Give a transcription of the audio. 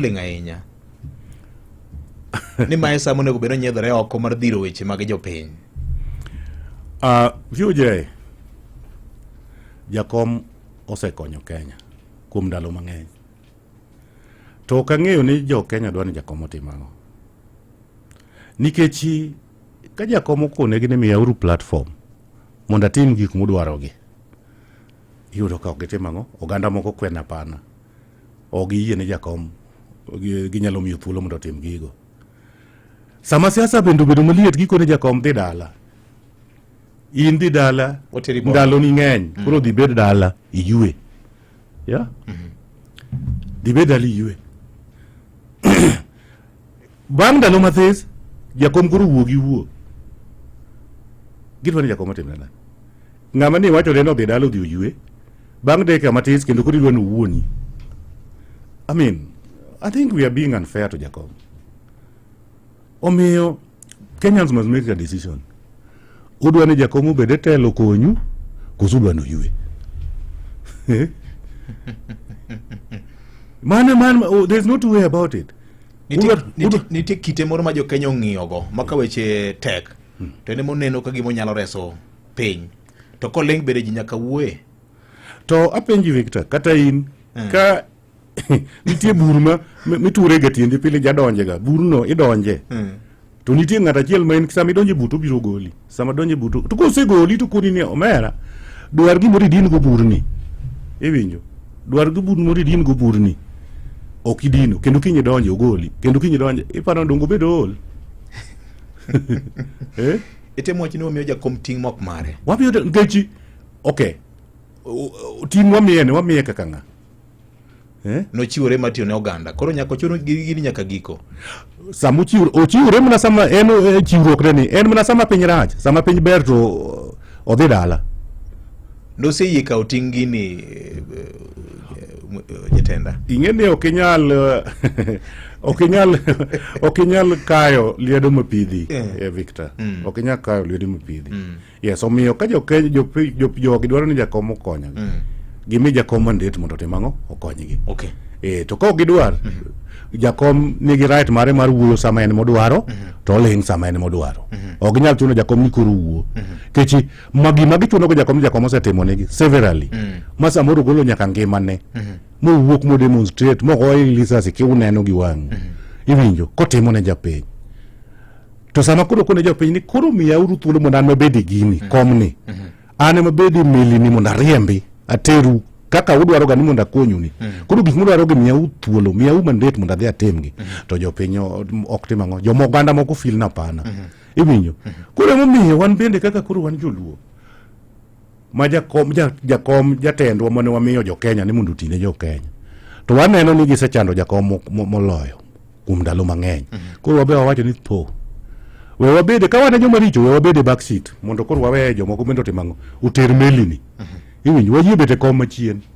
ling' ahinya ni mae sa monego bed onyiedhore oko mar dhiro weche mag jopiny uh, VOJ jakom osekonyo Kenya kuom ndalo mang'eny to ok ang'eyo ni jo Kenya dwa ni jakom otim ang'o nikech ka jakom okonegi ni miyauru platform mondo atim gik mudwarogi iyudo ka ok gitim ang'o oganda moko kwena pana ok giyie ne jakom ginyalo miyo thuolo mondo otim gigo sama siasa bende obedo maliet gikone jakom dhi dala in dhi dala ndaloni ng'eny mm. koro dhi bed dala iyue ya mm-hmm. dhi bed dala iyue bang' ndalo mathis jakom koro wuo gi wuo gidwa ni jakom otimna nang'o ng'ama ni iwachone ni odhi dala odhi oyue Bang' dakika matis kendo koro idwa ni owuoni. I mean, I think we are being unfair to Jakom. Omiyo, Kenyans must make a decision. Udwa ni Jakom obed e telo konyu, koso udwa ni oyue? Eh? Mane man, oh, there's no two way about it. Nitie- Udwa- nitie- udwa- nitie kite moro ma jokenya ong'iyogo ma ka weche tek to en ema oneno ka gima onyalo reso piny to koleng bende ji nyaka wuoye to apenji victor kata in eh. ka nitie bur ma miture ga tiendi pile jadonje ga burno idonje eh. to nitie ng'at achiel ma en sama idonje buto biro goli sama donje buto to kosegoli to koni ni omera dwar gimoro idin go burni iwinjo dwar go bur moro idin go burni ok idino kendo kinyi donje ogoli kendo kinyi donje iparo dongo bedo ol eh? Itemo wacho ni wamiyo jakom ting' mok mare. Wamiyo ngechi okay. Ting' wamiye ne wamiye kaka ng'a? Eh? Nochiwore ma tiyo ne oganda. Koro nyaka ochuno gini nyaka giko. Sama ochiwore ochiwore mana sama en e, chiwruok ne ni en mana sama piny rach, sama piny ber to odhi dala. Noseyie kawo ting' gini eh, eh, jatenda. Ing'e ni ok inyal eh, ok inyal ok inyal kayo liedo mapidhi yeah. Victor mm. ok inyal kayo liedo mapidhi mm. yes omiyo ka jokeny jogi dwaro ni jakom okonyogi mm. gimi jakom mandet mondo otim ang'o okonygi okay. e, to ka ok gidwar mm -hmm. jakom nigi right mare mar wuoyo sama en modwaro mm -hmm. to oling sama en modwaro mm -hmm. ok inyal chuno jakom ni koro wuo mm -hmm. kechi ma gima gichunogo jakom jakom osetimonegi severally mm. ma samoro golo nyaka ngimane mm -hmm. mowuok modemonstrate mogoye lisasi kiuneno gi wang'u mm -hmm. iwinjo kotimo ne japiny to sama koro kone japiny ni koro miyauru thuolo mondo an mabed e gini mm -hmm. komni mm -hmm. an ema bed e melini mondo ariembi ateru kaka udwaro ga ni mondo akonyu ni mm -hmm. koro gik mudwaro gi miyau thuolo miyau mandate mondo adhi atimgi mm -hmm. to jopiny ok tim ang'o joma oganda moko fil na pana mm -hmm. iwinjo koro emomiyo wan bende kaka koro wan joluo ma jakom ja- jakom jatendwa mane wamiyo jokenya ni mondo otine jokenya to waneno ni gisechando jakom mo- mo- moloyo kuom ndalo mang'eny koro wabe wawacho ni po we wabede ka wane joma richo we wabede back seat mondo koro waweye jomoko bende otimang'o oter melini iwinjo wayie bete kom machien